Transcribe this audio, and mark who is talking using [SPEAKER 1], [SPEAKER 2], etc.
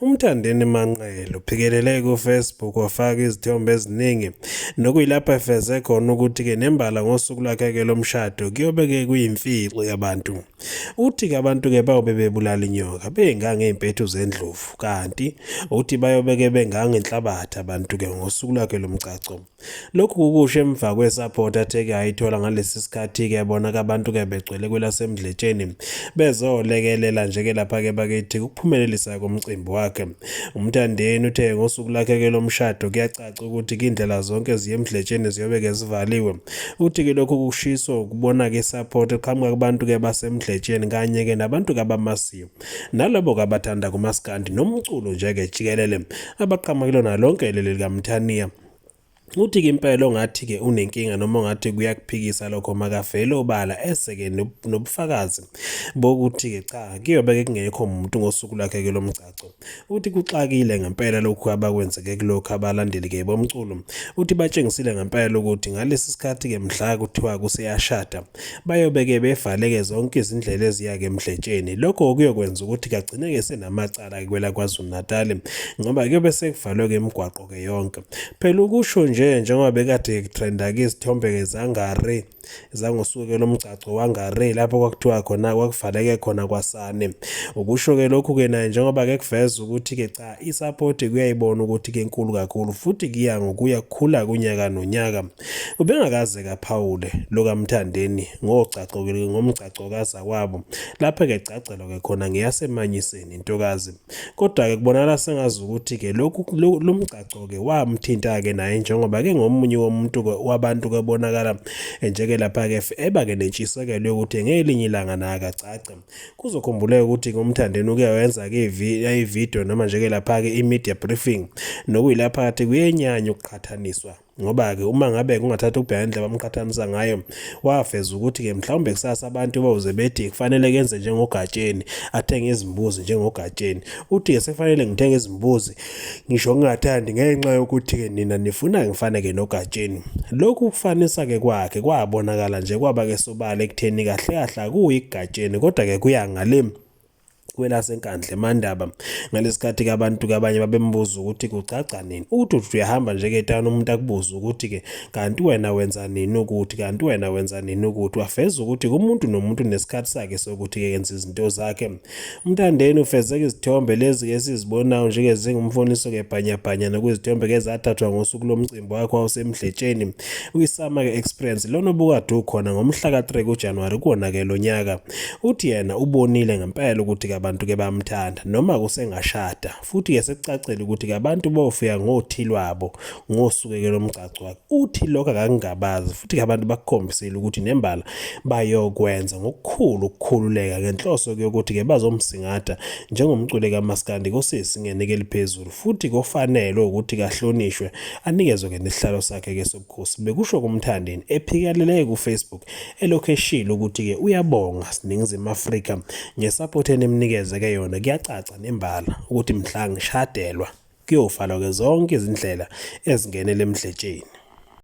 [SPEAKER 1] UMthandeni Manqele uphikelele kuFacebook wafaka izithombe eziningi nokuyilapho efeze khona ukuthi-ke nembala ngosuku lwakhe-ke lomshado kuyobe-ke kuyimfihlo yabantu. Uthi-ke abantu-ke bayobe bebulala inyoka bengangey'mpethu zendlovu kanti uthi bayobe-ke bengangenhlabathi abantu-ke ngosuku lwakhe lomgcagco. Lokhu kukusho emva kwesaphotha athe-ke ayithola ngalesi sikhathi-ke bona-ke abantu-ke begcwele kwelasemdletsheni bezolekelela nje-ke lapha-ke bakithi ukuphumelelisa komcimbi wakhe umthandeni uthe ngosuku lakhe-ke lomshado kuyacaca ukuthi kindlela zonke ziye emdletsheni ziyobe-ke zivaliwe uthi-ke lokhu kushiso ukubona-ke isaphotha eqhamuka kubantu-ke basemdletsheni kanye-ke nabantu-ke abamasiyo nalabo-ke abathanda kumaskandi nomculo nje-ke jikelele abaqhamuka kulona lonke leli likamthaniya Uthi-ke impela ongathi-ke unenkinga noma ongathi kuyakuphikisa lokho makavele obala ese-ke nobufakazi bokuthi-ke cha kuyobe-ke kungekho muntu ngosuku lakhe-ke lomgcagco uthi kuxakile ngempela lokhu abakwenzeke kulokhu abalandeli-ke bomculo uthi batshengisile ngempela ukuthi ngalesi sikhathi-ke mhla kuthiwa kuseyashada bayobe-ke bevaleke zonke izindlela eziya-ke emdletsheni lokho okuyokwenza ukuthi kagcine-ke senamacala-ke kwelakwaZulu-Natali ngoba kuyobe sekuvalwe-ke imigwaqo okay yonke phela ukusho nje njengoba bekade kutrenda ke izithombe ke zangare zangosuke lomgcagco wangare lapho kwakuthiwa khona kwakuvaleke khona kwasane ukusho ke lokhu ke naye njengoba ke kuveza ukuthi ke cha isupport kuyayibona ukuthi ke inkulu kakhulu futhi kuya ngokuya kukhula kunyaka nonyaka ubengakaze kaphawule lokamthandeni ngogcagco ngomgcagco kaza kwabo lapha ke gcagcelo ke khona ngeyasemanyiseni intokazi Kodwa-ke kubonakala sengazi ukuthi-ke lokhu lo mgcagco-ke wamthinta-ke naye njengoba ke ngomunye womuntu wabantu kebonakala njeke lapha-ke eba-ke nentshisekelo yokuthi ngelinye ilanga naye akagcagce kuzokhumbuleka ukuthi ngomthandeni uke wenza-ke ividiyo noma njeke lapha-ke i-media briefing nokuyilapha kathi kuyenyanya ukuqhathaniswa Ngoba-ke uma ngabe kungathatha ukubheka indlela abamqhathanisa ngayo, wafeza ukuthi-ke mhlawumbe kusasa abantu bawuze bethi kufanele kenze njengogatsheni, athenge izimbuzi njengogatsheni. Uthi-ke sekufanele ngithenge izimbuzi, ngisho ngingathandi ngenxa yokuthi-ke nina nifuna ngifaneke nogatsheni. Lokhu kufanisa-ke kwakhe kwabonakala nje kwaba-ke sobala ekutheni kahle kahle akuyi kugatsheni, kodwa-ke kuya ngale kwelasenkandla emandaba ngalesikhathi ke abantu kabanye babembuza ukuthi kucaca nini ukuthi uthi uyahamba nje ke etana umuntu akubuza ukuthi ke kanti wena wenza nini ukuthi kanti wena wenza nini ukuthi wafeza ukuthi kumuntu nomuntu nesikhathi sakhe sokuthi ke yenza izinto zakhe umthandeni ufezeka izithombe lezi ke sizibonayo nje ke zingumfoniso ke bhanyabhanya nokuzithombe ke zathathwa ngosuku lomcimbi wakho wawusemdletsheni uyisama ke experience lona obukade ukhona ngomhla ka 3 kuJanuary kuwona ke lonyaka Uthi yena ubonile ngempela ukuthi abantu ke bamthanda noma kusengashada futhi ke sekucacile ukuthi abantu bofika ngothi lwabo ngosukeke lomgcagco wakhe. Uthi lokho akakungabazi futhi ke abantu bakukhombisile ukuthi nembala bayokwenza ngokukhulu ukukhululeka ngenhloso yokuthi ke bazomsingatha njengomculi kamaskandi kosisi ngenike eliphezulu futhi kofanele ukuthi kahlonishwe anikezwe ke nesihlalo sakhe ke Khosi bekusho kumthandeni ephikelele kufacebook elokhu eshilo ukuthi-ke uyabonga siningizimu afrika ngesapoti enimnikezeke yona kuyacaca nembala ukuthi mhla ngishadelwa kuyofalwa-ke zonke izindlela ezingenele emdletsheni